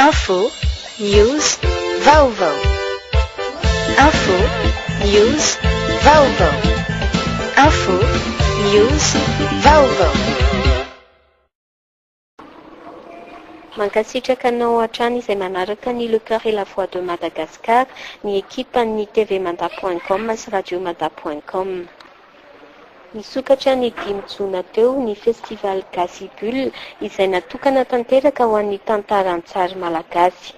Info, News, Vaovao Info, News, Vaovao Info, News, Vaovao Mankasitraka anao hatrany izay manaraka ny Le Coeur et la Voix de Madagascar, ny ekipan'ny TV Mada point com sy Radio Mada point com. Nisokatra ny dimy jona teo ny Festival Gasy Bulle izay natokana tanteraka ho an'ny tantara an-tsary malagasy.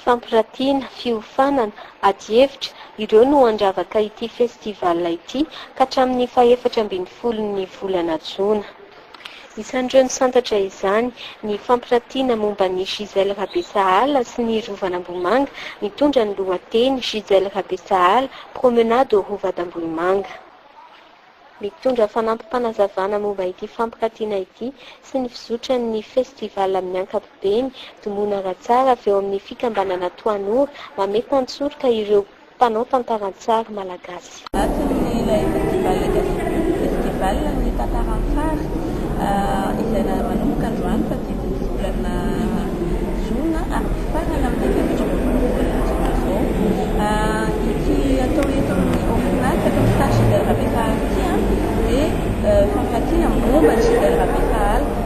Fampiratiana, fiofanana, adihevitra, ireo no handravaka ity Festival ity ka hatramin'ny fahefatra ambin'ny folon'ny volana jona. Isan'ireo nisantatra izany, ny fampirantiana momba an'i Gisèle Rabesahala sy ny Rovan'Ambohimanga, mitondra ny lohateny Gisèle Rabesahala, Promenade au Rova d'Ambohimanga. Mitondra fanampim-panazavana momba ity fampirantiana ity sy ny fizotran'ny Festival amin'ny ankapobeny, Domona Ratsara avy ao amin'ny Fikambanana Toanora, mametan-tsoroka ireo Mpanao tantara an-tsary malagasy. Anatin'ny ilay Festival Gastronomie Festival ny tantara an-tsary izay manomboka androany fahadimy ny volana jona ary mifarana amin'ny efatra ambin'ny folo ny volana jona izao. Ity atao eto amin'ny OFNAC eto amin'ny Stade Gilbert Rabefahaly ity dia fampatsiahana momba an'i Gilbert Rabefahaly.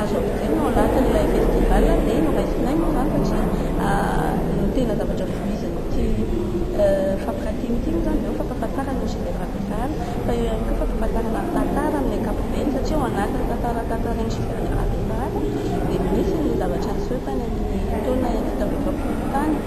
Azo ampitaina ao anatin'ilay festival dia noraisinay moa izany satria ny tena zavatra voizin'ity fampirantiana ity moa izany dia eo ny fampahafantarana ny chef-d'oeuvre ampiasana fa eo ihany koa fampahafantarana ny tantara amin'ny ankapobeny satria ao anatin'ny tantara tantarain'ny chef-d'oeuvre ampiasana dia misy ny zavatra niseho tany amin'ny taona enina sy roa arivo tany.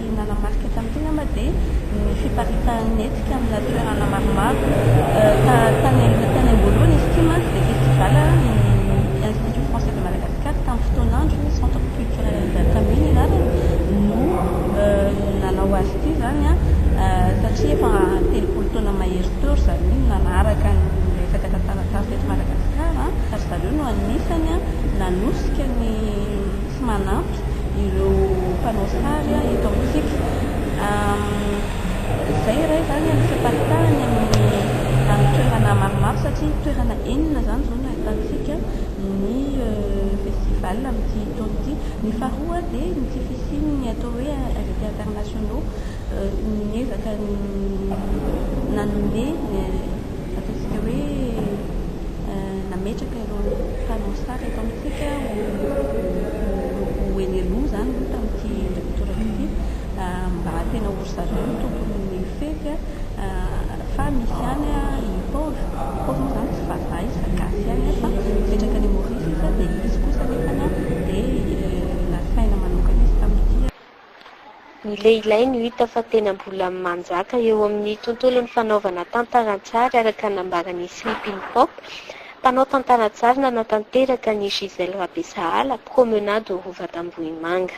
Ny nanamarika tamin'ity angamba dia ny fiparitahan'ny hetsika amina toerana maromaro. Tany am-boalohany izy ity mantsy dia festival ny Institut Français de Madagascar tamin'ny fotoan'androny, Centre Culturel Dacami ny anarany, no nanao azy ity izany satria efa telopolo taona mahery teo ry zareo no nanaraka ny resaka tantara-tany teto Madagasikara ary zareo no anisany nanosika ny sy manampy ireo mpanao sary eto amintsika. Izay iray izany ny fiparitahan'ny amin'ny toerana maromaro satria toerana enina izany izao no ahitantsika ny festival amin'ity taona ity. Ny faharoa dia ny tsy fisian'ny atao hoe invités internationaux niezaka nanome ataontsika hoe nametraka Ireo mpanao sary eto amintsika ho eny aloha izany aloha tamin'ity toerana ity mba tena ho ry zareo no tompon'ny fety fa misy ihany i Paul. I Paul moa izany tsy vazaha izy fa gasy ihany fa mipetraka any Maurice izy dia izy kosa anefa dia nasaina manokana izy tamin'ity. Ny lehilahy no hita fa tena mbola manjaka eo amin'ny tontolon'ny fanaovana tantara an-tsary araka ny nambaran'i Sleeping Pop, mpanao tantara an-tsary nanatanteraka an'i Gisèle Rabesahala, promenade au Rova d'Ambohimanga.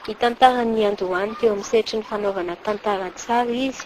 Nitantara ny niandohany teo amin'ny sehatry ny fanaovana tantara an-tsary izy.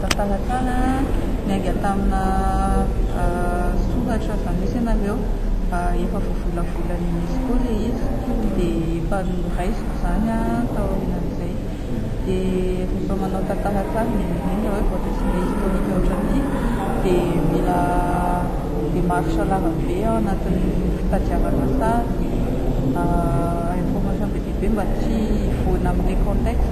Talatala niainga tamina soratra izany hoe scenario efa voavolavolan'ny UNESCO ilay izy dia efa noraisiko izany taorian'izay dia rehefa manao tantara tsara indrindra indrindra hoe vao resaka historique ohatran'ity dia mila démarche larambe ao anatin'ny fitadiavana sary information be dia be mba tsy hivoana amin'ilay contexte.